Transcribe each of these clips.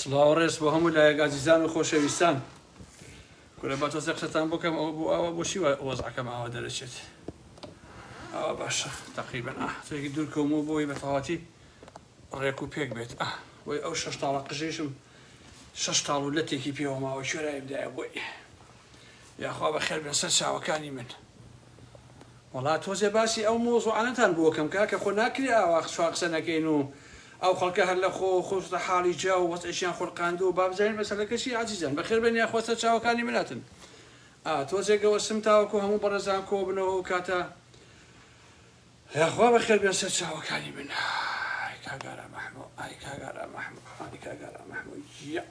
سڵاو ڕێز بۆ هەموو لایەک ئازیزان و خۆشەویستان کورە بە تۆزە قسەتان بکەم ئەو بۆ ئەوە بۆشی وەزعەکەم ئاوا دەرەچێت ئەوە باشە تقریبن ئەسێکی دوور کۆم و بۆی بە تەواتی ڕێک و پێک بێت ئە بۆی ئەو شش تاڵە قژێشم شش تاڵ و لە تێکی پێوە ماوە شوێرایم دایە بۆی یاخوا بە خێر بێن سەر چاوەکانی من وەڵا تۆزێ باسی ئەو مەوزوعانەتان بۆکەم کاکە خۆ ناکرێ ئاوا چوار قسە نەکەین و ئەو خەڵکە هەر لە خۆ خۆسوتە حاڵی جا و وەزعیشیان خولقاندووە با بزانین مەسەلەکە چیە ئازیزان بەخێر بێن یاخوا سەر چاوەکانی من هاتن ئا تۆزێ گەوەستم تاوەکو هەموو بەڕێزان کۆبنەوە ئەو کاتە یاخوا بەخێر بێن سەر چاوەکانی من ئای کاگارا مەحموو ئای کاگارا مەحموو ئای کاگارا مەحموو یە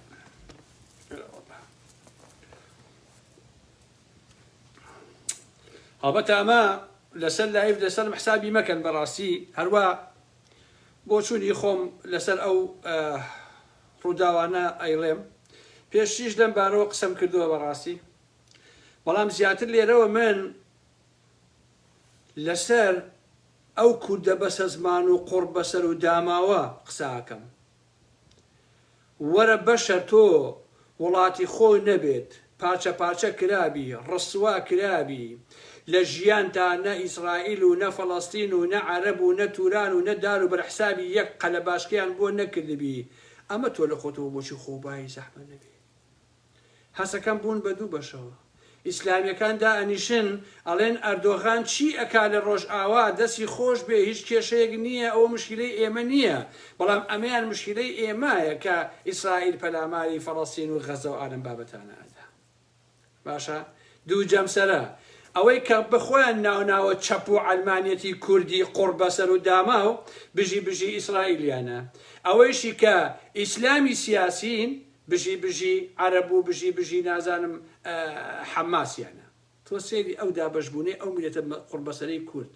هەڵبەت ئەمە لەسەر لایڤ لەسەرم حسابی مەکەن بەڕاستی هەروە بۆچوونی خۆم لەسەر ئەو ڕووداوانە ئەیڵێم پێشتیش لەم بارەوە قسەم کردووە بەڕاستی بەڵام زیاتر لێرەوە من لەسەر ئەو کوردە بەسەزمان و قڕ بەسەر و داماوە قساکەم وەرە بەشە تۆ وڵاتی خۆ نەبێت پارچە پارچە کرابی ڕسوا کرابی لە ژیانتا نە ئیسرائیل و نە فەڵەستین و نە عەرەب و نە توران و نە دار و بەرە حسابی یەک قەلەباشکەیان بۆ نەکردبی ئەمە تۆ لە خۆتەوە بۆچی خۆ بایی زەحمەت نەبێ هەسەکەم بوون بە دوو بەشەوە. ئیسلامیەکان دائەنیشن ئەڵێن ئەردۆغان چی ئەکا لە ڕۆژئاوا دەسی خۆش بێ هیچ کێشەیەک نیە ئەوە مشکیلەی ئێمە نیە بەڵام ئەمەیان مشکیلەی ئێمایە کە ئیسرائیل پەلاماری فەڵەستین و غەزە و ئالەم بابەتانە ئەدا باشە دوو جەمسەرە ئەوەی کە بە خۆیان ناوناوە چەپ و عەلمانیەتی کوردی قوڕ بەسەر و داماو بژی بژی ئیسرائیلیانە ئەوەیشی کە ئیسلامی سیاسین بژی بژی عەرەب و بژی بژی نازانم حەماسیانە تۆ سەیری ئەو دابەش بونەی ئەو میلەتە قوڕبەسەرەی کورد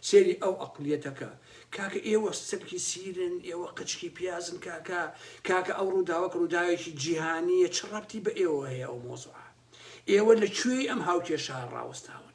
سەیری ئەو ئەقڵیەتەکە کاکە ئێوە سەگی سیرن ئێوە قەچکی پیازن کاکە کاکە ئەو ڕوداوەک ڕوداوێکی جیهانیە چ ڕەبتی بە ئێوە هەیە ئەو مۆزوعە ئێوە لە کوێی ئەم هاوکێشە ڕاوەستاون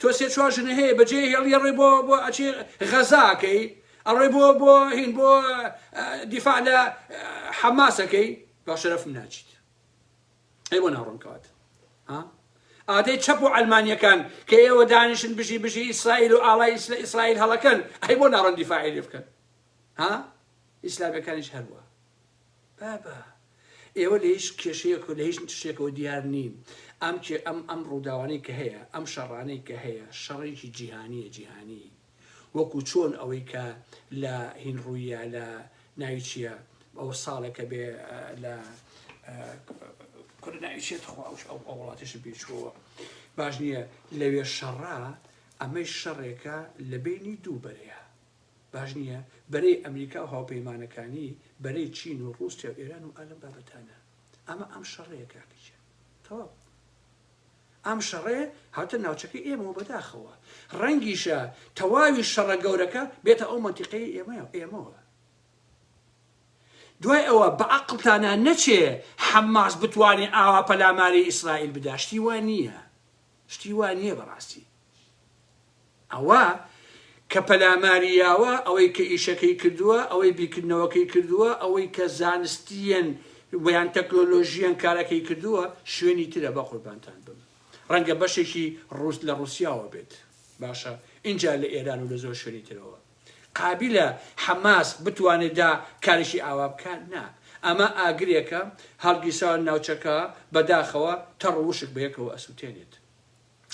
تۆ سێ چوار ژنە هەیە بەجێ هێڵی ئەڕۆی بۆ بۆ ئەچێ غەزاکەی ئەڕۆی بۆ بۆ هین بۆ دیفاع لە حەماسەکەی با شەرەفم ناچیت ئەی بۆ ناڕۆم کەوات ها ئادەی چەپ و ئەلمانیەکان کە ئێوە دانیشن بژی بژی ئیسرائیل و ئاڵای ئیسرائیل هەڵەکەن ئەی بۆ ناڕۆن دیفاعی لێ بکەن ها ئیسلامەکانیش هەروە بابە ئێوە لە هیچ کێشەیەک و لە هیچ شتێکەوە دیار نین، ئەم کێ ئەم ئەم ڕووداوانەی کە هەیە، ئەم شەڕانەی کە هەیە، شەڕێکی جیهانییە جیهانی، وەکوو چۆن ئەوەی کە لە هین ڕوویە لە ناوی چییە ئەوە ساڵێکە بێ لە کورە ناوی چییە تخوا ئەو ئەو ئەو وڵاتەشم پێ چووەوە باش نییە لەوێ شەڕە، ئەمەیش شەڕێکە لە بەینی دوو بەرەیە، باش نیە بەرەی ئەمریکاو هاوپەیمانەکانی بەرەی چین و ڕوسیاو ئێران و ئالەم بابەتانە ئەمە ئەم شەڕەیە کاکە گیان تەواو ئەم شەڕەیە هاتە ناوچەکەی ئێمەوە بەداخەوە ڕەنگیشە تەواوی شەڕە گەورەکە بێتە ئەو منتیقەی ئێمە ئێمەوە دوای ئەوە بە عقلتانە نەچێ حەماس بتوانێ ئاوا پەلاماری ئیسرائیل بداشتی وان نییە شتی وا نیە بەڕاستی ئەوە کە پەلاماری یاوە ئەوەی کە ئیشەکەی کردووە ئەوەی بیرکردنەوەکەی کردووە ئەوەی کە زانستیەن ویان تەکنۆلۆژیان کارەکەی کردووە شوێنی ترە بە قوربانتان بم ڕەنگە بەشێکی ڕووس لە ڕووسیاوە بێت باشە ئینجا لە ئێران و لە زۆر شوێنی ترەوە قابیلە حەماس بتوانێت دا کاریشی ئاوا بکات؟ نا. ئەمە ئاگرێکە هەڵگیرساوە ناوچەکە بەداخەوە تەڕ وشک بەیەکەوە ئەسوتێنێت.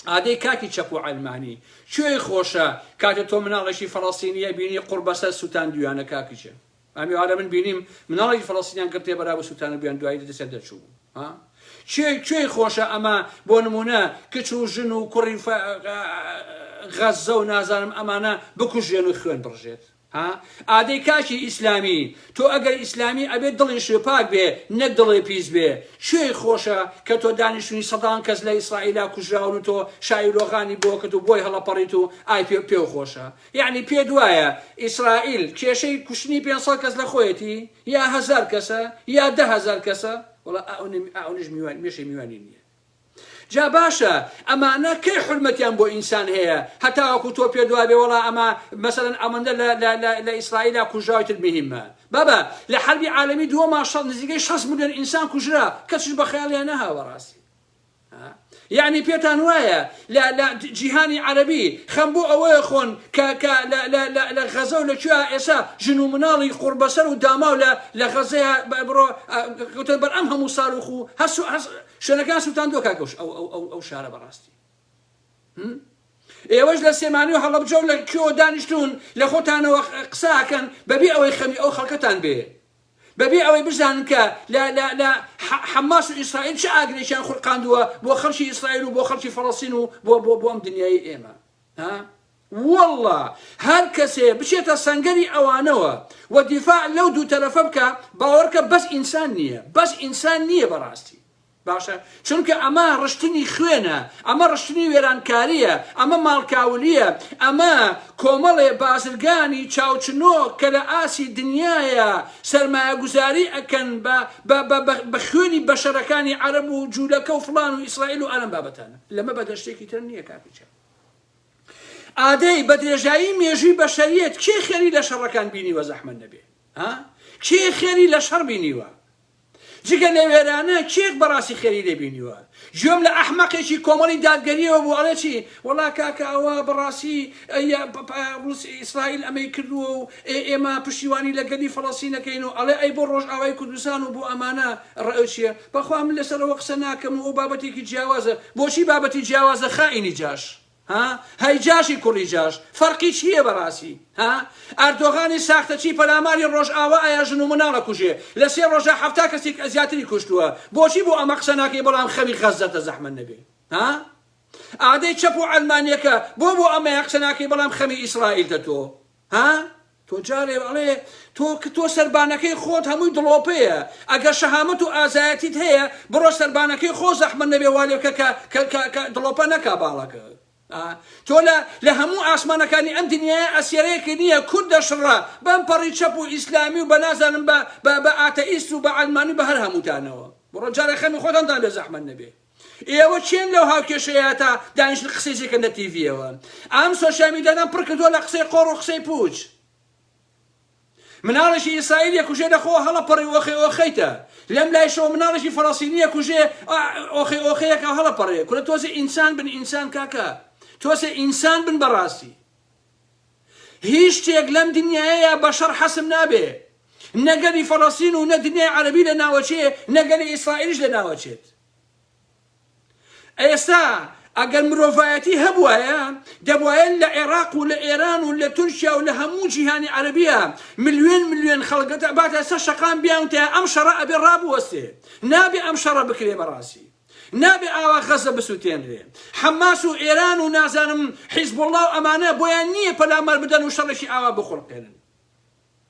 ئادەی کاکی چەپ و عەلمانی. کوێی خۆشە کاتێ تۆ مناڵێکی فەڵەستینی ئەبینی قوڕ بەسەر سوتاندویانە کاکی جەن. ئەم ئێوارە من بینیم مناڵێکی فەلەستینیان گڕ تێبەرا بە سووتان و بیاندوایی لە دەستیان دەرچوو بوو ها کێ کوێی خۆشە ئەمە بۆ نموونە کچ و ژن و کوڕی فە غەززە و نازانم ئەمانە بکوژێن و خوێن بڕژێت ها ئادەی کاکی ئیسلامی تۆ ئەگەر ئیسلامی ئەبێت دڵی شوێپاک بێ نەک دڵێ پیس بێ کوێی خۆشە کە تۆ دانیشتنی سەدان کەس لە ئیسرائیلا کوژراون و تۆ شاوی رۆغانی بۆکت و بۆی هەڵەپەڕیت و ئای پێ پێو خۆشە یەعنی پێت وایە ئیسرائیل کێشەی کوشتنی پێنج سەد کەس لە خۆیەتی یا هەزار کەسە یا دە هەزار کەسە وەڵا ئەونیش میوان مێشەی میوانی نییە جا باشە ئەمانە کەی حرمەتیان بۆ ئینسان هەیە هەتاوەکو تۆ پێ دوابێ وەڵا ئەمە مەسەن ئەمەندە لە ئیسرائیلا کوژاوتر مهمە بابە لە حربی عالمی دووەما نزیکەی 6 ملیۆن ئینسان کوژرا کەسش بە خەیاڵیان نەهاوە ڕاستی یەعنی پێتان وایە لە لە جیهانی عەرەبی خەم بۆ ئەوەیە خۆن کە کە لە لە لە لە غەزە و لە کوێ ئێسا ژن و مناڵی قوڕبەسەر و داماو لە لە غەزەیە بڕۆ گوتە بەر ئەم هەموو ساروخ و هەس و هەس شوێنەکان سووتان دۆ کاکەوش ئەو ئەو ئەو ئەو شارە بەڕاستی ئێوەش لە سێمانی و هەڵەبجە و لە کوێوە دانیشتون لە خۆتانەوە قساکەن بەبێ ئەوەی خەمی ئەو خەڵکەتان بێ بەبێ ئەوەی بزانن کە لە لە لە حەماس و ئیسرائیل چ ئاگرێکیان خولقاندووە بۆ خەڵکی ئیسرائیل و بۆ خەڵکی فەڵەستین و بۆ بۆ بۆ ئەم دنیای ئێمە ها والله هەر کەسێ بچێتە سەنگەری ئەوانەوە و دیفاع لەو دوو تەرەفە بکە باوەڕکە بەس ئینسان نییە بەس ئینسان نییە بەڕاستی باشە چونکە ئەمە ڕشتنی خوێنە، ئەمە ڕشتنی وێرانکارییە، ئەمە ماڵکاولییە، ئەمە کۆمەڵێ بازرگانی چاوچنۆک کە لە ئاستی دنیایا سەرمایەگوزاری ئەکەن بە خوێنی بەشەرەکانی عەرەب و جولەکە و فڵان و ئیسرائیل و ئەلەم بابەتانە لەمە بەدەر شتێکی تر نییە کاک کچە ئادەی بە درێژایی مێژووی بەشەریەت کێ خێری لە شەڕەکان بینیوە زەحمەت نەبێ ها کێ خێری لە شەڕ بینیوە جگە لە وێرانە کێ بەڕاستی خێری لێ بینیوە گوێم لە ئەحمەقێکی کۆمەڵی دادگەریەوە بوو ئەڵێ چی وەڵا کاکە ئەوە بەڕاستی ئەیە پ- پ- ڕوس ئیسرائیل ئەمەی کردووە و ئێ- ئێمە پشتیوانی لە گەلی فەڵەستینەکەین و ئەڵێ ئەی بۆ ڕۆژئاوای کوردستان و بۆ ئەمانە ڕ چیە بەخوا من لەسەر ئەوە قسە ناکەم و ئەو بابەتێکی جیاوازە بۆچی بابەتی جیاوازە خائینی جاش ها هەی جاشی کوڕی جاش فەرقی چییە بەڕاسی ها ئەردۆغانی ساختەچی پەلاماری ڕۆژئاوا ئایا ژن و مناڵ ئەکوژێ لە سێ ڕۆژا حەفتا کەسی زیاتری کوشتووە بۆچی بۆ ئەمە قسە ناکەی بەڵام خەوی غەززەتە زەحمەت نەبێ ها ئادەی چەپ و عەلمانیەکە بۆ بۆ ئەمەیان قسە ناکەی بەڵام خەمی ئیسڕائیلتە تۆ ها تۆ جارێ ئەڵێ تۆ کە تۆ سەربانەکەی خۆت هەمووی دڵۆپەیە ئەگەر شەهامەت و ئازایەتیت هەیە بڕۆ سەربانەکەی خۆ زەحمە نەبێ والێ بکە کە کە- کە- کە دڵۆپە نەکا باڵەکە ئا، تۆ لە لە هەموو ئاسمانەکانی ئەم دنیایە ئەسیەرێکی نییە کورد دەشڕە بەم پەڕی چەپ و ئیسلامی و بە نازانم بە بە بە ئاتەئیست و بە عەلمانی و بە هەر هەمووتانەوە بڕۆ جارێ خەمی خۆتان دان بێ زەحمەت نەبێ ئێوە کێن لەو هاوکێشەیاتا دانیشن قسەی جێکەن لە تیڤیەوە ئەم سۆشیال میدیادان پڕ کردووە لە قسەی قۆڕ و قسەی پوچ مناڵێکی ئیسرائیلیە کوژێ لە خۆ هەڵە پەڕی ئۆخی ئۆخیتە لەم لایشەوە مناڵێکی فەڕەسینیە کوژێ ئۆخی ئۆخەیەکە هەڵە پەڕێ کورە تۆزێ ئینسان بن ئینسان کاکە تۆسێ ئینسان بن بەڕاستی هیچ شتێک لەم دنیایەیا بەشەڕ حەسم نابێ نە گەلی فەڵەستین و نە دنیای عەرەبی لە ناوەچێ نە گەلی ئیسرائیلیش لە ناوەچێت ئێستا ئەگەر مرۆڤایەتی هەبوایە دەبواە لە عێراق و لە ئێران و لە تورکیا و لە هەموو جیهانی عەربیە ملیێن ملیێن خەڵگەتە باتە سە شقام بیان تێ ئەم شەڕە ئەبێ ڕابوەستێ نابێ ئەم شەڕە بکرێ بەڕاستی نابێ ئاوا غەزە بسوتێنرێ حەماس و ئێران و نازانم حیزبوڵڵا و ئەمانە بۆیان نییە پەلامار بدەن و شەڕێکی ئاوا بخوڵقێنن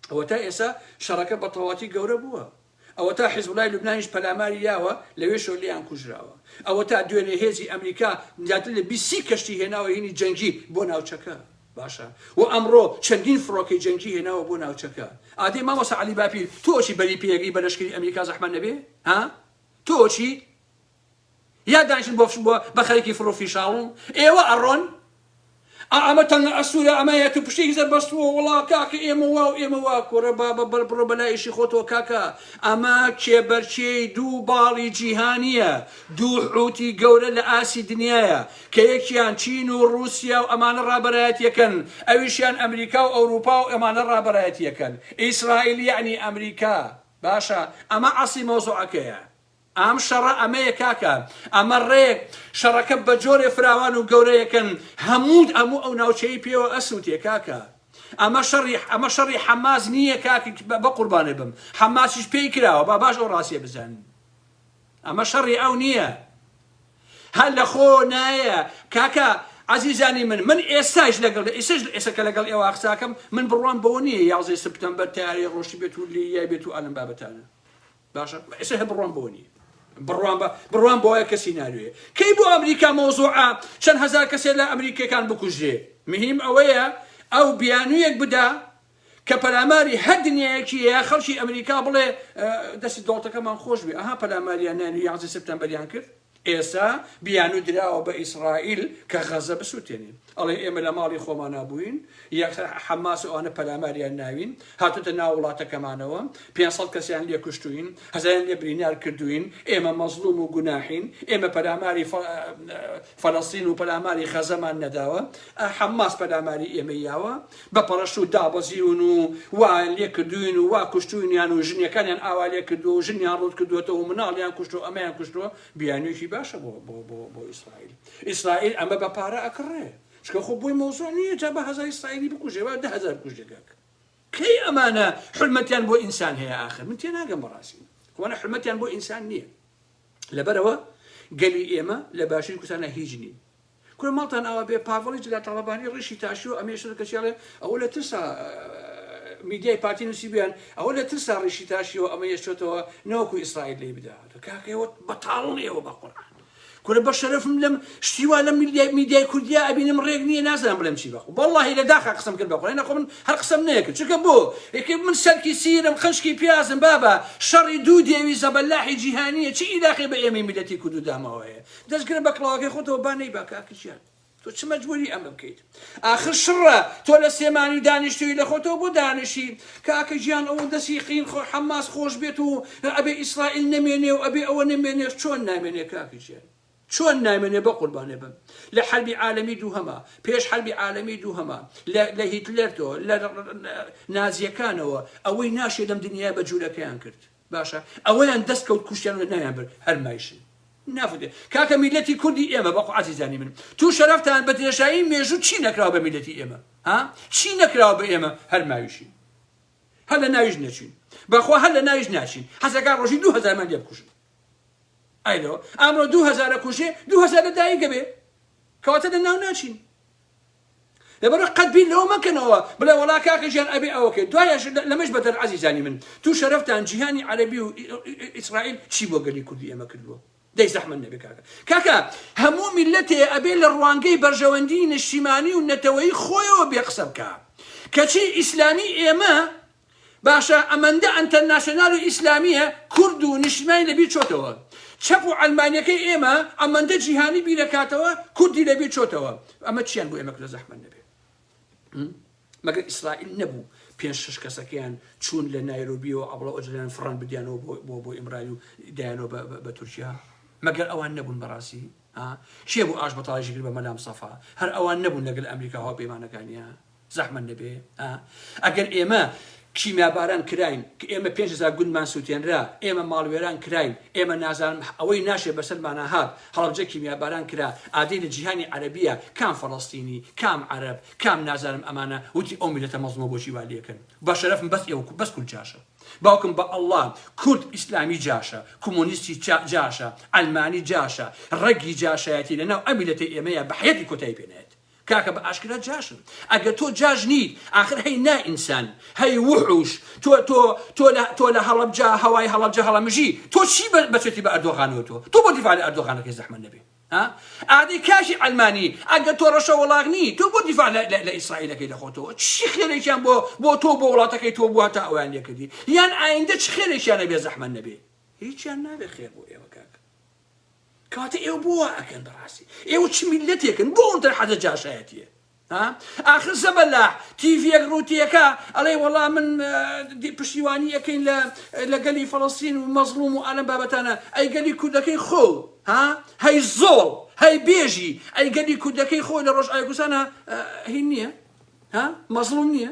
ئەوە تا ئێسا شەڕەکە بە تەواتی گەورە بووە ئەوە تا حیزبوڵای لوبنانیش پەلاماری یاوە لەوێ شۆلیان کوژراوە ئەوە تا دوێنێ هێزی ئەمریکا زیاتر لە بیسی کەشتی هێناوە هینی جەنگی بۆ ناوچەکە باشە و ئەمڕۆ چەندین فڕۆکەی جەنگی هێناوە بۆ ناوچەکە ئادەی مامۆسا علی باپیر تۆچی بەری پێگەی بەلەشکری ئەمریکا زەحمە نەبێ ها تۆ چیت یا دانیشن بۆ بۆ بە خەریکی فڕو فیشاڵن ئێوە ئەڕۆن ئا ئەمە تەنگە ئەستورە ئەمە یەتو پشتێکی زەر بەستووە وڵا کاکە ئێمە وا و ئێمە وا کۆرە با بە بەر بڕۆ بەلا ئیشی خۆتەوە کاکە ئەمە کێبەرکێی دوو باڵی جیهانیە دوو حوتی گەورە لە ئاسی دنیاە کە یەکیان چین و ڕوسیا و ئەمانە ڕابەرایەتیەکەن ئەویشیان ئەمریکا و ئەوروپا و ئەمانە ڕابەرایەتیەکەن ئیسرائیل یەعنی ئەمریکا باشە ئەمە ئەسڵی مەوزوعەکەیە ئەم شەڕە ئەمەیە کاکە ئەمە ڕێک شەڕەکە بە جۆرێ فراوان و گەورەیەکەن هەموود ئەموو ئەو ناوچەی پێوە ئەسووتێ کاکە ئەمە شەڕی ئەمە شەڕی حەماس نییە کاک بە قوربانێ بم حەماسیش پێی کراوە با باش ئەو ڕاستیە بزانین ئەمە شەڕی ئەو نییە هەر لە خۆ نایە کاکە عزیزانی من من ئێستاش لەگەڵ ئێسش ئێستا کە لەگەڵ ئێوە قساکەم من بڕوام بەوە نییە یازێ سپتەمبەر تارێ ڕۆشتی بێت و لی یای بێت و ئەلم بابەتانە باشە ئێستا هە بڕوام بەوە نییە بڕوان بە بڕوان بۆە کەسی ناروێ کەی بۆ ئەمریکا مۆزوعە چەند هزار کەسێ لە ئەمریکەکان بکوژێ مهم ئەوەیە ئەو بیانویەک بدا کە پەلاماری هەر دنیایەکی هەیە خەڵکی ئەمریکا بڵێ دەستی دۆڵتەکەمان خۆش بێ ئەها پەلاماریان نانی یازە سپتەمبەریان کرد ئێسا بیانو دراوە بە ئیسرائیل کە غەزە بسووتێنین ئەڵێ ئێمە لە ماڵی خۆمانە بووین یەک حەماس ئەوانە پەلاماریان ناوین هاتوتە ناو وڵاتەکەمانەوە 500 کەسیان لێ کوشتوین هەزاریان لێ برینار کردوین ئێمە مەزلوم و گوناحین ئێمە پەلاماری فەلەستین و پەلاماری غەزەمان نەداوە حەماس پەلاماری ئێمە یاوە بە پەڕەشت و دابەزیون و وا لێکردووین و وا کوشتووینیان و ژنیەکانیان ئاوا لێکردووە و ژنیان ڕووت کردووەتەوە و مناڵیان کوشتووە و ئەمەیان کوشتووە، بیانوویەکی باشە بۆ بۆ بۆ بۆ ئیسرائیل. ئیسرائیل ئەمە بە پارە ئەکڕێ. چونکە خۆ بۆی مەوزوع نییە جا با هەزار ئیسرائیلی بکوژێ با دە هەزار بکوژێ کاکە. کەی ئەمانە حورمەتیان بۆ ئینسان هەیە ئاخر؟ من تێناگەم بەڕاستی. ئەوانە حورمەتیان بۆ ئینسان نییە. لەبەرئەوە گەلی ئێمە لە باشووری کوردستانا هیچ نین. کورە ماڵتان ئاوا بێ پاڤڵی جلە تاڵەبانی ڕیشی تاشیوە ئەمەیە شەرە کەچی ئەڵێ ئەوە لە ترسا میدیای پارتی نوسیبیان ئەوە لە ترسا ڕیشی تاشیوە ئەمە یەشتۆتەوە نەوەکو ئیسرائیل لێی بداتو کاکە ئێوە بەتاڵن ئێوە بەقورعان کورە بە شەرەفم لەم شتی وا لە میدیای میدیای کوردیا ئەبینم ڕێک نییە نازانم بڵێم چی بەخۆ بەڵڵاهی لە داخا قسەم کرد بەخۆ نەخۆ من هەر قسەم نەیەکرد چونکە بۆ یەکێ من سەرکی سیرم قنچکی پیازم بابە شەڕی دوو دێوی زەبەلاحی جیهانیە چی ئیلاقەی بە ئێمەی میلەتی کورد و داماوەیە دەستگرە بە کڵاوەکەی خۆتەوە با نەیبا کاک ژیان تۆ چ مەجبوری ئەمە بکەیت ئاخر شڕە تۆ لە سلێمانی دانیشتوی لە خۆتەوە بۆ دانیشی کاکە ژیان ئەوە دەسی قین خۆ حەماس خۆش بێت و ئەبێ ئیسرائیل نەمێنێ و ئەبێ ئەوە نەمێنێ چۆن نامێنێ کاک ژیان چۆن نامێنێ بە قوربانێ بم لە حربی عالەمی دووهەما پێش حربی عالەمی دووهەما لە هیتلەر تۆ لە نازیەکانەوە ئەوەی ناشێ لەم دنیای بە جوولەکەیان کرد باشە ئەوەیان دەست کەوت کوشتیان و ناویان برد هەر مایشن نافوتێ کاکە میلەتی کوردی ئێمە بەخۆ عزیزانی من تو شەرەفتان بە درێژایی مێژوو چی نەکراوە بە میلەتی ئێمە ها چی نەکراوە بە ئێمە هەر ماویشین هەر لە ناویش نەچوین بەخۆ هەر لە ناویش ناچین حەزەکە ڕۆژی دو هەزارمان لێ بکوژن ئایلەوە ئامرۆ دو هەزارە کوژێ دو هەزارە دایکە بێ کەواتە لە ناو ناچین لەبەرئەوە قەت بیر لەوە مەکەنەوە بڵێ وەڵا کاکە ژیان ئەبێ ئەوەکەی دوایەش لەمەش بەدەر عەزیزانی من تو شەرەفتان جیهانی عەرەبی و ئیسرائیل چی بۆ گەلی کوردی ئێمە کردووە دەی زەحمەت نەبێ کاکە کاکە هەموو میلەتێ ئەبێ لە ڕوانگەی بەرژەوەندی نیشتیمانی و نەتەوەی خۆیەوە بێ قسە بکە کەچی ئیسلامی ئێمە باشە ئەمەندە ئەنتەرناسیۆنال و ئیسلامیە کورد و نیشتیمانی لەبیر چۆتەوە چەپ و عەلمانیەکەی ئێمە ئەمەندە جیهانی بیرەکاتەوە کوردی لەبیر چۆتەوە ئەمە چیان بۆ ئێمە کردە زەحمەت نەبێ مەگەر ئیسرائیل نەبوو پێنج شش کەسەکەیان چوون لە نایرۆبیەوە عەبڵە ئۆجەلان فڕان بدیانەوە بۆ بۆ بۆ ئیمرای و دایانەوە بە بە تورکیا مەگەر ئەوان نەبوون بەڕاستی ها کێ بوو ئاش بەتاڵیشی کرد بە مەلام سەفا هەر ئەوان نەبوون لەگەل ئەمریکا هاوپەیمانەکانیان زەحمەت نەبێ ئا ئەگەر ئێمە کیمیاباران کراین کە ئێمە پێنج هەزار گوندمان سووتێنرا، ئێمە ماڵوێران کراین، ئێمە نازانم ئەوەی ناشێ بەسەرمانا هات، هەڵەبجە کیمیاباران کرا، ئادەی لە جیهانی عەرەبییە کام فەڵەستینی، کام عەرەب، کام نازانم ئەمانە وتی ئەو میللەتە مەزڵومە بۆچی وا لێکن؟ بە شەرەفم بەس ئێوە کو بەس کورد جاشە. باوکم بە ئەڵڵا کورد ئیسلامی جاشە، کۆمۆنیستی چا جاشە، عەلمانی جاشە، ڕەگی جاشایەتی لە ناو ئەم میللەتەی ئێمەیە بە حەیاتی کۆتایی پێ نایەت. کاکە بە ئاشکرا جاشن ئەگەر تۆ جاش نیت ئاخر هەی نا ئینسان هەی وحوش تۆ تۆ تۆ لە تۆ لە هەڵەبجا هەوای هەڵەبجە هەڵەمژی تۆ چی بە- بەچێتی بە ئەردۆغانەوە تۆ تۆ بۆ دیفاع لە ئەردۆغانەکەی زەحمەت نەبێ ها ئادەی کاکی عەلمانی ئەگەر تۆ ڕەشە وڵاغ نی تۆ بۆ دیفاع لە لە- لە ئیسرائیلەکەی لە خۆتەوە چی خێرێکیان بۆ بۆ تۆ بۆ وڵاتەکەی تۆ بووە تا ئەویان لێ کردی یان ئایندە چ خێرێکیانە بێ زەحمەت نەبێ هیچیان نابێ خێر بۆ ئێوە کاکە کەواتە ئێوە بۆ وا ئەکەن بەڕاستی ئێوە چ میلەتێکن بۆ ئەوەندە حەزە جاشایەتیە ها ئاخر زەبەلاح تیڤیەک ڕووتیەکە ئەڵێ وەڵا من پشتیوانی ئەەکەین لە لە گەلی فەڵەستین و مەزڵوم و ئەلم بابەتانە ئەی گەلی کوردەکەی خۆ ها هەی زۆڵ هەی بێژی ئەی گەلی کوردەکەی خۆی لە ڕۆژ ئایکوسانە هین نییە ها مەزڵوم نییە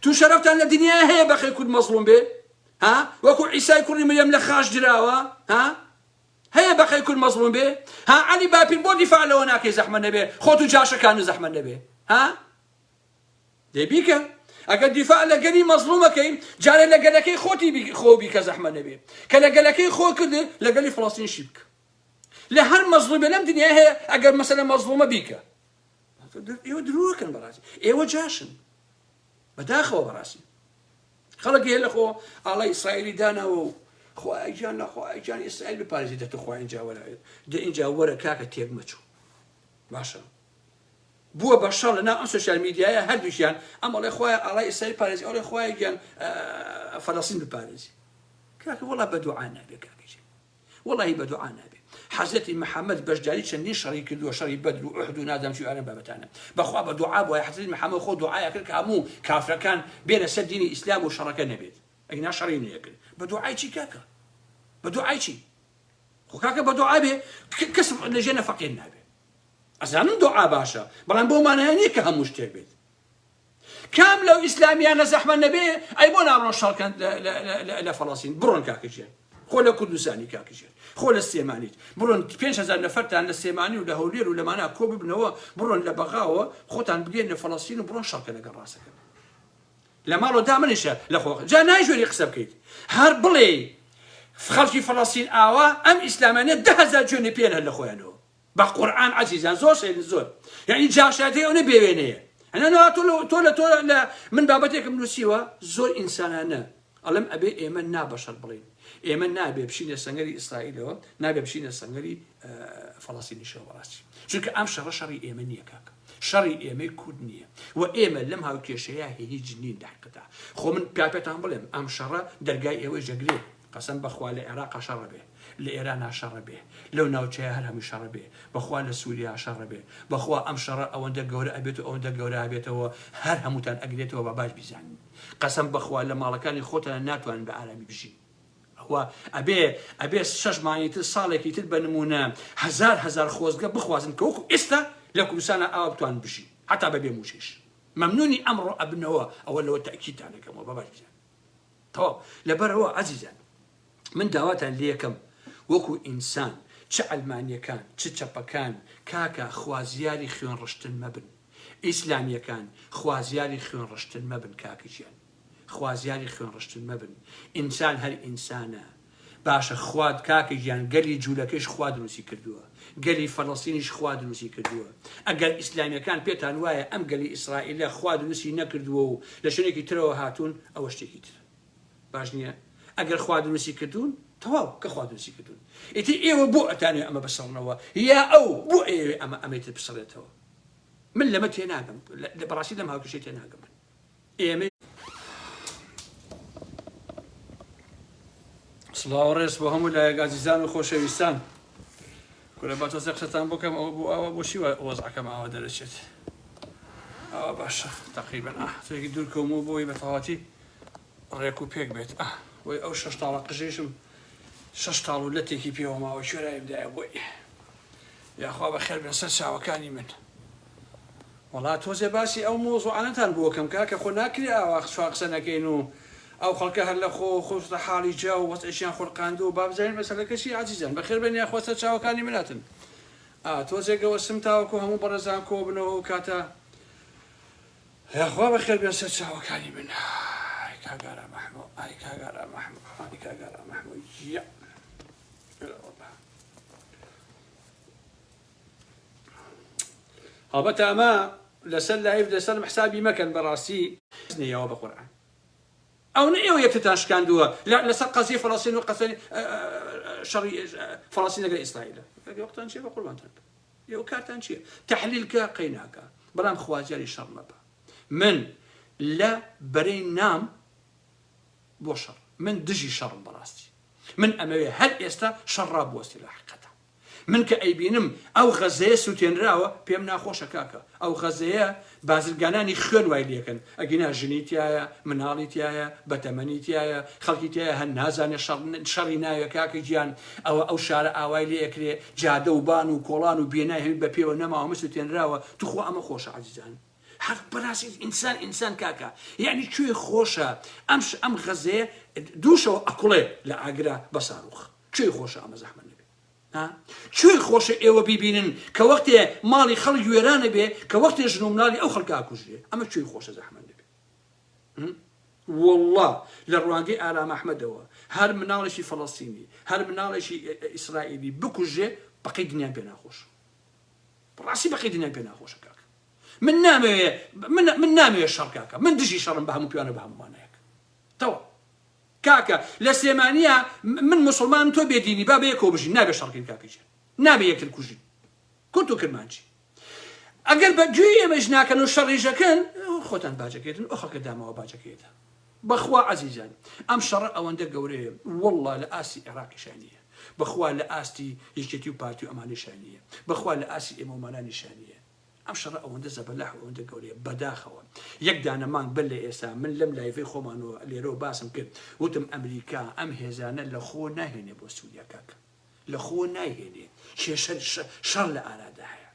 تو شەرفتان لە دنیا هەیە بەخی کورد مەزڵوم بێ ها وەکو عیسای کوڕی مریم لە خاش دراوە ها هەیە بەقەی کورد مەزڵوم بێ ها عەلی باپیر بۆ دیفاع لەوە ناکەی زەحمەت نەبێ خۆت و جاشە کانو زەحمەت نەبێ ها دەی بیکە ئەگەر دیفاع لە گەلی مەزڵومەکەی جارێ لە گەلەکەی خۆتی خۆ بیکە زەحمەت نەبێ کە لە گەلەکەی خۆ کرد لە گەلی فڵەستین شی بکە لە هەر مەزڵومە لەم دنیا هەیە ئەگەر مەسەلە مەزڵومە بیکە ئێوە درۆکەن بەڕاستی ئێوە جاشن بەداخەوە بەڕاستی خەڵک هەیە لەخۆ ئاڵای ئیسرائیلی داناوە و خوایە گیان لە خوایە گیان ئیسرائیل بپارێزی دە توخوا ئینجا وەرە دە ئینجا وەرە کاکە تێک مەچوو باشە بووە بە شەڕ لە ناو ئەم سوسیال میدیایە هەردووشیان ئەم ئەڵێ خوای ئاڵای ئیسرائیل پارێزی ئەڵێ خوایە گیان فەلەستین بپارێزی کاکە وەڵا بە دوعا نابێ کاکە وەڵاهی بە دوعا نابێ حەزرەتی محمد بەشداری چەندین شەڕی کردووە شەڕی بەدر و ئوحد و نازام چی ئەم بابەتانە بەخوا بە دوعا بووە حەزرەتی محمد خۆ دوعای ئەکرد کە هەموو کافرەکان بێنە سەر دینی ئیسلام و شەڕەکە نەبێت ئەگینا شەڕی نەیەکرد بە دوعای چی کاکە بە دوعای چی خۆ کاکە بە دوعا بێ کەس لەژێ نەفەقێن نابێ ئەزانم دوعا باشە بەڵام بۆ مانایە نییە کە هەموو شتێک بێت کام لەو ئیسلامیانە زەحمە نەبێ ئەی بۆ ناڕۆن شەڕکەن لە فەڵەسین بڕۆن کاکەژێن خۆ لە کوردستانی کاکەژێن خۆ لە سلێمانیت بڕۆن 5هزار نەفەرتان لە سلێمانی و لە هەولێر و لەمانە کۆ ببنەوە بڕۆن لە بەغاوە خۆتان بگەن لە فەڵەسین و بڕۆن شەڕکە لەگەڵ ڕاستەکەن لە ماڵۆ دا منیشە لە خۆ جا نایژۆری قسە بکەیت هەر بڵێ خەڵکی فەڵەسین ئاوا ئەم ئیسلامانە دههزار جوێنی پێن هەر لە خۆیانەوە بە قورعان عەزیزان زۆر سەیرن زۆر یعنی جاشایەتی ئەونە بێوێنەیە هەنەوە تۆ تۆ لە تۆ لە من بابەتێکم نووسیوە زۆر ئینسانانە ئەڵم ئەبێ ئێمە نابەشەر بڵین ئێمە نابێ بشینە سەنگەری ئیسرائیلەوە نابێ بشینە سەنگەری فەڵاستینیشەوە بەڕاستی چونکە ئەم شەڕە شەڕی ئێمە نییە کاکە شەڕی ئێمەی کورد نییە و ئێمە لەم هاوکێشەیە هیچ نین داقدا خۆ من پیاپێتان بڵێم ئەم شەڕە دەرگای ئێوەی جەگرێ قەسەم بەخوا لە ئێراقا شەڕە بێ لە ئێرانا شەڕە بێ لەو ناوچەیە هەر هەمووی شەڕە بێ بەخوا لە سوریا شەڕە بێ بەخوا ئەم شەڕە ئەوەندە گەورە ئەبێت و ئەوەندە گەورە ئەبێتەوە هەر هەمووتان ئەگرێتەوە با باش بیزانن قەسەم بەخوا لە ماڵەکانی خۆتان ناتوانن بە ئارامی بژین ئەوە ئەبێ ئەبێ شەش مانگی تر ساڵێکی تر بە نمونە هەزار هەزار خۆزگە بخوازن کە وەکو ئێستا لە کوردستانە ئاوا بتوان بژین حتا بەبێ موچەیش مەمنونی ئەمڕۆ ئەبنەوە ئەوە لەوە تەئکیدتان ئەکەمەوە با باش بزانن تەواو لەبەرئەوە ئازیزان من داواتان لێکەم وەکو ئینسان چ عەلمانیەکان چ چەپەکان کاکە خوازیاری خوێن ڕشتن مەبن ئیسلامیەکان خوازیاری خوێن ڕشتن مەبن کاکە گیان خوازیاری خوێن ڕشتن مەبن ئینسان هەر ئینسانە باشە خوا کاکە گیان گەلی جولەکەیش خوا دروستی کردووە گەلی فەلەستینیش خوا دروستی کردووە ئەگەر ئیسلامیەکان پێتان وایە ئەم گەلی ئیسرائیلە خوا دروستی نەکردووە و لە شوێنێکی ترەوە هاتوون ئەوە شتێکی تر باش نییە ئەگەر خوا دروستی کردوون تەواو کە خوا دروستی کردوون ئیتر ئێوە بۆ ئەتانێ ئەمە بسەڵنەوە یا ئەو بۆ ئێوێ ئەمە ئەمەی تر بسەڵێتەوە من لەمە تێناگەم بەڕاستی لەم هاوکێشەی تێناگەم من ئێمەی سڵاو ڕێز بۆ هەموو لایەک ئازیزان و خۆشەویستان کورە با تۆزێ قسەتان بکەم ئەوە بۆ ئەوە بۆچی وەزعەکەم ئاوا دەرەچێت ئەوە باشە تقریبا ئەحتێکی دوور کەم و بۆی بەتەواتی ڕێک و پێک بێت ئە بۆی ئەو شەش تاڵە قژێشم شەش تاڵ و لەتێکی پێوە ماوە شوێرایم دایە بۆی یاخوا بە خێر بێن سەر چاوەکانی من وەڵا تۆزێ باسی ئەو مەوزوعانەتان بۆکەم کاکە خۆ ناکرێ ئاوا چوان قسە نەکەین و ئەو خەڵکە هەر لە خۆوە خۆشتە حاڵی جا و وەزعیشیان خولقاندووە با بزانین مەسەلەکە چیە عەزیزان بەخێر بێن یاخوا سەر چاوەکانی من هاتن ئا تۆزێ گەوەستم تاوەکو هەموو بەڕێزان کۆ بنەوە ئەو کاتە یاخوا بەخێر بێن سەر چاوەکانی من ئای کاک ئارام ئەحمۆ ئای کاک ئارام ئەحمۆ ئای کاک ئارام ئەحمۆ یە هەڵبەت ئەمە لەسەر لایڤ لەسەر حسابی مەکەن بەڕاستی حەز نییەوە بە قورعان ئەو نە ئێوە یەکتتان شکاندووە لەسەر قەزیە فەڵەستین و قەسەری شەڕی فەڵەستین لەگەر ئیسرائیل وەختان چێ بە قوربانتان ئێوە کارتان چییە تەحلیلکە قەیناکە بەڵام خوازیاری شەڕ مەبە من لە بەرەی نام بۆ شەڕ من دژی شەڕم بەڕاستی من ئەمەوێ هەر ئێستا شەڕ ڕابوەستی لە حقەتە من کە ئەیبینم ئەو غەزەیە سوتێنراوە پێم ناخۆشە کاکە ئەو غەزەیە بازرگانانی خوێن وای لێکەن ئەگینا ژنی تیایە مناڵی تیایە بەتەمەنی تیایە خەڵکی تیایە هەر نازانێ شەڕ شەڕی ناوێ کاکە گیان ئەوە ئەو شارە ئاوای لێ ئەکرێ جادە و بان و کۆڵان و بینای هەمی بە پێوە نەماوە مە سوتێنراوە توخوا ئەمە خۆشە عەزیزان حەق بەراسی ئینسان ئینسان کاکە یعنی کوێ خۆشە ئەم ئەم غەزەیە دووشەوە ئەکوڵێ لە ئاگرا بە ساروخ کوێی خۆشە ئەمە زەحمەت نەبێ ها کوێی خۆشە ئێوە بیبینن کە وەختێ ماڵی خەڵک وێرانە بێ کە وەختێ ژن و مناڵی ئەو خەڵکە ئاکوژرێ ئەمە کوێی خۆشە زەحمەت نەبێ والله لە ڕوانگەی ئارام ئەحمەدەوە هەر مناڵێکی فەڵەستینی هەر مناڵێکی ئیسرائیلی بکوژێ بەقەی دنیان پێ ناخۆش ڕاستی بەقەی دنیان پێ ناخۆشە کاکە من نامەوێ من نامەوێ شەڕ کاکە من دژی شەڕم بە هەموو پیانە بە هەمووانەیەک تەوە کاکە لە سلێمانیە من موسڵمانم تۆ بێ دینی با بەیەکەوە بژین نابێ شەڕ بکەین کاکە گیان نابێ یەکتر کوژین کورد و کرمانجی ئەگەر بە گوێی ئێمەش ناکەن و شەڕیژەکەن خۆتان باجەکەێتن ئەو خەڵکە داماوە باجەکەێتە بەخوا عزیزان ئەم شەڕە ئەوەندە گەورەیە والله لە ئاسی عێراقی شانیە بەخوا لە ئاستی یەکێتی و پارتی و ئەمانی شانیە بەخوا لە ئاسی ئێمەمانانی شانیە ئەم شەڕە ئەوەندە زەبەلاح و ئەوەندە گەورەیە بەداخەوە یەک دانە مانگ بەر لە ئێستا من لەم لایڤەی خۆمانەوە لێرەوە باسم کرد وتم ئەمریکا ئەم هێزانە لە خۆ ناهێنێ بۆ سووریا کاک لە خۆ نایهێنێ کێشە شەڕ لە ئارادا هەیە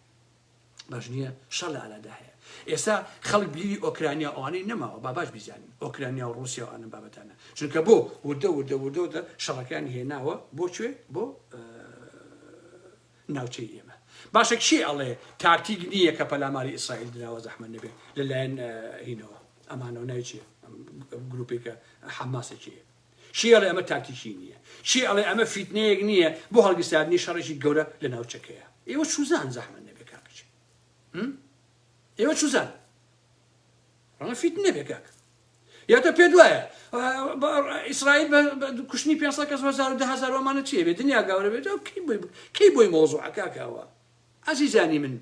باش نییە شەڕ لە ئارادا هەیە ئێستا خەڵک بلیوی ئۆکرانیا ئەوانەی نەماوە با باش بیزانین ئۆکرانیا و رووسیا و ئەم بابەتانە چونکە بۆ وردە وردە وردەوردە شەڕەکان هێناوە بۆ کوێ بۆ ناوچەی ئێمە باشە کێ ئەڵێ تاکتیک نییە کە پەلاماری ئیسرائیل دراوە زەحمەت نەبێت لەلایەن هینەوە ئەمانەوە ناوی چیە گروپی کە حەماسە چیە چی ئەڵێ ئەمە تاکتیکی نییە چی ئەڵێ ئەمە فیتنەیەک نییە بۆ هەڵگیرساندنی شەڕێکی گەورە لە ناوچەکەیە ئێوە چوزان زەحمەت نەبێت کاکچی ئێوە چوزان ڕەنگە فیتنە بێ کاک یا تۆ پێت وایە ئیسرائیل بە کوشتنی پێنج سەد کەس و هەزار و دە هەزار و ئەمانە چییە بێ دنیا گاورە بێت ئەو کەی بۆی کەی بۆی مەوزوعە کاکاوە ئازیزانی من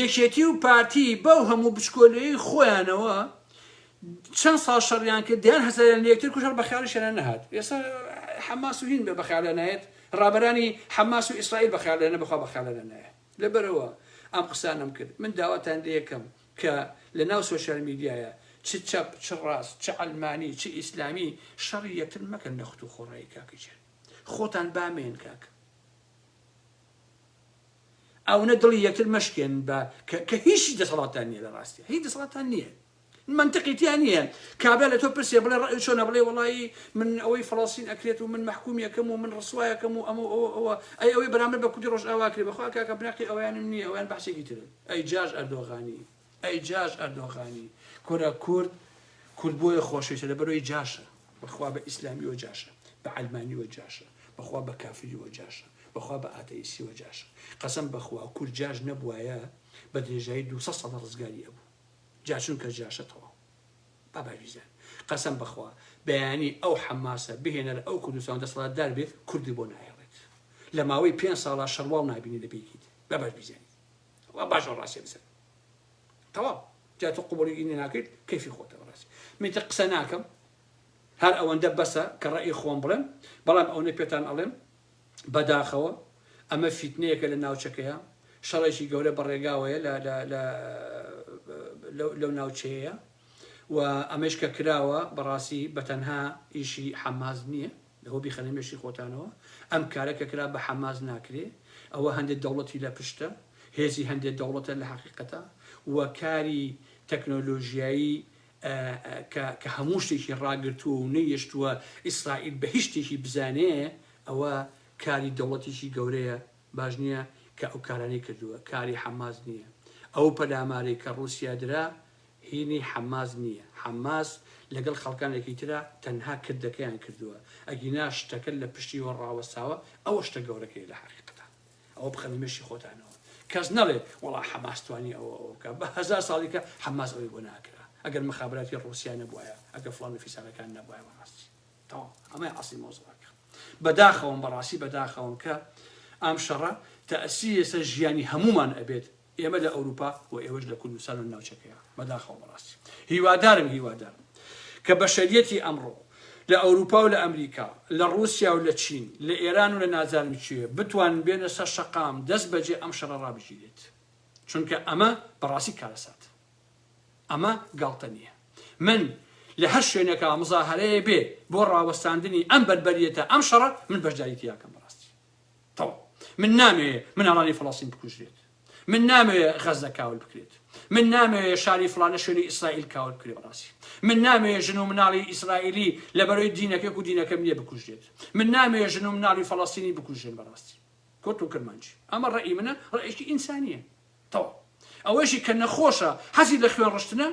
یەکێتی و پارتی بەو هەموو بچکۆلەی خۆیانەوە چەند ساڵ شەڕیان کرد دەیان هەزاریان لە یەکتر کوشەر بە خیاڵیشیان نەهات ئێستا حەماس و هین بێ بە خیاڵیان نایەت ڕابەرانی حەماس و ئیسرائیل بە خیاڵیانە بەخوا بە خیاڵیانە نایە لەبەرەوە ئەم قسانەم کرد من داواتان لە یەکەم کە لە ناو سۆشیال میدیایە چ چەپ چ ڕاست چ عەلمانی چ ئیسلامی شەڕی یەکتر مەکەن لە خت و خۆڕایی کاک ژیر خۆتان بامێن کاک ئەونە دڵی یەکتر مەشکێن بە کە هیچی دەسەڵاتان نییە لە ڕاستە هیچ دەسەڵاتان نییە منتقیتیان نییە کابرا لە تۆ پرسێ بڵێ ڕێ چۆنە بڵێ وڵی من ئەوەی فلسین ئەکرێت و من محکومیەکەم و من ڕسوایەکەم و ئەمە ئەوە ئەوە ئەی ئەوەی بەرامبەر بە کوردی ڕۆژ ئاواکرێ بەخوا کاکە بناقی ئەویانم نییە ئەویان بەسێکی ترن ئەی جاش ئەردۆغانی ئەی جاش ئەردۆغانی کورە کورد کورد بۆیە خۆشەویستە لەبەرەوەی جاشە بەخوا بە ئیسلامیەوە جاشە بە عەلمانیەوە جاشە بەخوا بە کافریەوە جاشە بەخوا بە ئاتەئیسیەوە جاشە قەسەم بەخوا کورد جاش نەبوایە بە درێژایی دو سە سەدە ڕزگاری ئەبوو جاشون کە جاشە تەواو بابای ویزان قەسەم بەخوا بەیانی ئەو حەماسە بهێنە لە ئەو کوردستان دەسەڵاتدار بێت کوردی بۆ نایەڵێت لە ماوەی پێنج ساڵا شەڕواڵ نابینی لە پێکیت بابات بیزانیت وا باشە ڕاستیە بزانم تەواو جا تۆ قوبولی ئینی ناکەیت کەفی خۆتە بەڕاستی منتە قسە ناکەم هەر ئەوەندە بەسە کە ڕێی خۆم بڵێم بەڵام ئەوەی پێتان ئەڵێم بەداخەوە ئەمە فیتنەیەکە لە ناوچەکەیە شەڕێکی گەورە بەڕێگاوەیە لەو ناوچەیە و ئەمەش کە کراوە بەڕاستی بەتەنها ئیشی حەماز نییە لەوە بیخەنە مێشکی خۆتانەوە ئەم کارە کە کرا بە حەماس ناکرێ ئەوە هەندێ دەوڵەتی لە پشتە هێزی هەندێ دەوڵەتە لە حەقیقەتا و کاری تەکنۆلۆژیایی کە هەموو شتێکی ڕاگرتووە و نەیشتووە ئیسرائیل بە هیچ شتێکی بزانێ ئەوە کاری دەوڵەتیکی گەورەیە باش نییە کە ئەو کارانەی کردووە کاری حەماس نییە ئەو پەلامارەی کە ڕووسیا درا هینی حەماس نیە حەماس لەگەڵ خەڵکانێکی ترە تەنها کردەکەیان کردوە ئەگینا شتەکە لە پشتیوە ڕاوەستاوە ئەوە شتە گەورەکەیە لە حەقیقەتا ئەوە بخەنە مێشی خۆتانەوە کەس نەڵێ وەڵا حەماس توانی ئەوە ئەوە بکا بە هەزار ساڵی کە حەماس ئەوەی بۆ ناکرا ئەگەر مخابراتی ڕوسیا نەبوایە ئەگە فڵان و فیسارەکان نەبوایە بەڕاستی تەواو ئەمەی عەسڵی مەوزوعەکە بەداخەوەم بەڕاستی بەداخەوەم کە ئەم شەڕە تەئسیری لەسەر ژیانی هەموومان ئەبێت. ئێمە لە ئەوروپا و ئێوەش لە کوردستان و ناوچەکەیا بەداخەوە بەڕاستی هیوادارم هیوادارم کە بەشەریەتی ئەمڕۆ لە ئەوروپا و لە ئەمریکا لە ڕوسیا و لە چین لە ئێران و لە نازانم کوێ بتوانن بێنە سەر شەقام دەست بەجێ ئەم شەڕە ڕابگیرێت چونکە ئەمە بەڕاستی کارەساتە ئەمە گاڵتە نیە من لە هەر شوێنێکا مزاهەرەیە بێ بۆ ڕاوەستاندنی ئەم بەربەریەتە ئەم شەڕە من بەشداری تیاکەم بەڕاستی. تەو. من نامەوێ مناڵانی فەڵەستین بکوژرێت. من نامەوێ غەزە کاول بکرێت. من نامەوێ شاری فڵانە شوێنی ئیسرائیل کاول بکرێ بەڕاستی. من نامەوێ ژن و مناڵی ئیسرائیلی لەبەرەوەی دینەکەک و دینەکەم نییە بکوژرێت. من نامەوێ ژن و مناڵی فەڵەستینی بکوژرێن بەڕاستی. کورد و کرمانجی. ئەمە ڕەئی منە، ڕەئیشی ئینسانییە. تەو. ئەوەیشی کە نەخۆشە، حەزی لە خوێن ڕشتنە،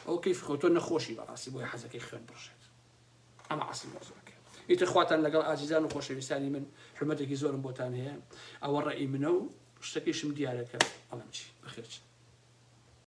ئەوە کەیفی خۆی، تۆ نەخۆشی بەڕاستی بۆیە حەزەکەی خوێن بڕژێت. ئەمە ئەسڵی مەوزوعەکە ئیتر خواتان لەگەڵ ئازیزان و خۆشەویستانی من حرمەتێکی زۆرم بۆتان هەیە ئەوە ڕێی منە و شتەکەیشم دیارەکە بەڵام چی بەخێرچن